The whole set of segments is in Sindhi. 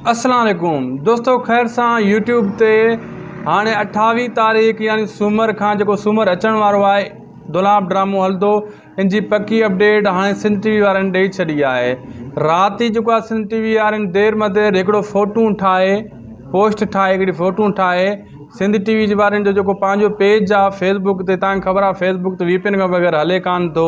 اسلام عليڪم دوستو خير سان يوٽيوب تي هاڻي اٺاويهه تاريخ يعني سومر کان جيڪو سومر اچڻ وارو آهي دولاب ڊرامو هلندو ان جي پڪي اپڊيٽ هاڻي سنڌ ٽي وي وارن ڏئي ڇڏي آهي رات ئي جيڪو سنڌ ٽي وي وارن دير مدير هڪڙو فوٽو ٺاهي پوسٽ ٺاهي هڪڙي فوٽو ٺاهي سنڌ ٽي وي جي وارن جو جيڪو پنهنجو پيج آهي فيسبوڪ تي تان خبر آهي فيسبوڪ تي وي پي اين کان بغير هلي ڪانه ٿو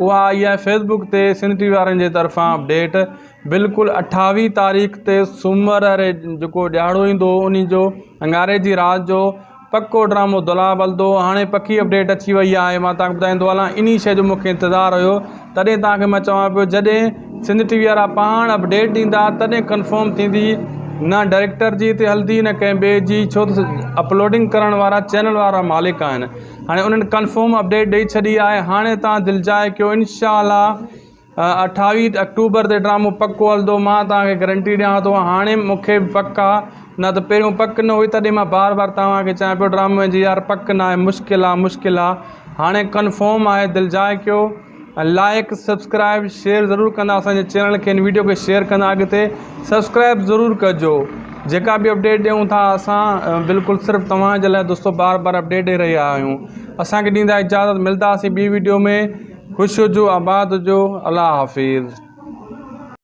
اها آئي آهي فيس بڪ تي سنڌ ٽي وي وارن جي طرفان اپڊيٽ بلڪل اٺاويهه تاريخ تي سومر ري جيڪو ڏهاڙو ايندو ان جو اڱاري جي رات جو پڪو ڊرامو دولاب هلندو هاڻي پڪي اپڊيٽ اچي وئي آهي مان تهان کي ٻڌائيندو هلان انهي شي جو مونکي انتظار هيو تڏهن تهان کي مان چوان پيو جڏهن سنڌ ٽي وي وارا پاڻ اپڊيٽ ڏيندا تڏهن ڪنفرم ٿيندي نه ڊائريڪٽر جي تي هلندي نه ڪنهن ٻئي جي ڇو ته اپلوڊنگ ڪرڻ وارا چينل وارا مالڪ آهن هاڻي انهن ڪنفرم اپڊيٽ ڏئي ڇڏي آهي هاڻي توهان دل چاهي ڪيو انشاء الله اٺاويهه اڪٽوبر تي ڊرامو پڪو هلندو مان توهان کي گرنٽي ڏيان ٿو هاڻي مونکي به پڪ آ نه ته پهريون پڪ نه هئي تڏهن مان بار بار توهان کي چيان پيو ڊرامي جي يار پڪ ناهي مشڪل آ مشڪل آ هاڻي ڪنفرم آهي دل چاهي ڪيو لائڪ سبسڪرائب شيئر ضرور ڪندا اسان جي چينل کي ھن ويڊيو کي شيئر ڪندا اڳتي سبسڪرائب ضرور ڪجو جيڪا به اپڊيٽ ڏيون ٿا اسان بلڪل صرف توھان جي لاء دوستو بار بار اپڊيٽ ڏئي رھيا آھيون اسان کي ڏيندا اجازت ملداسين ٻي ويڊيو ۾ خوش ھجو آباد ھجو الله حافظ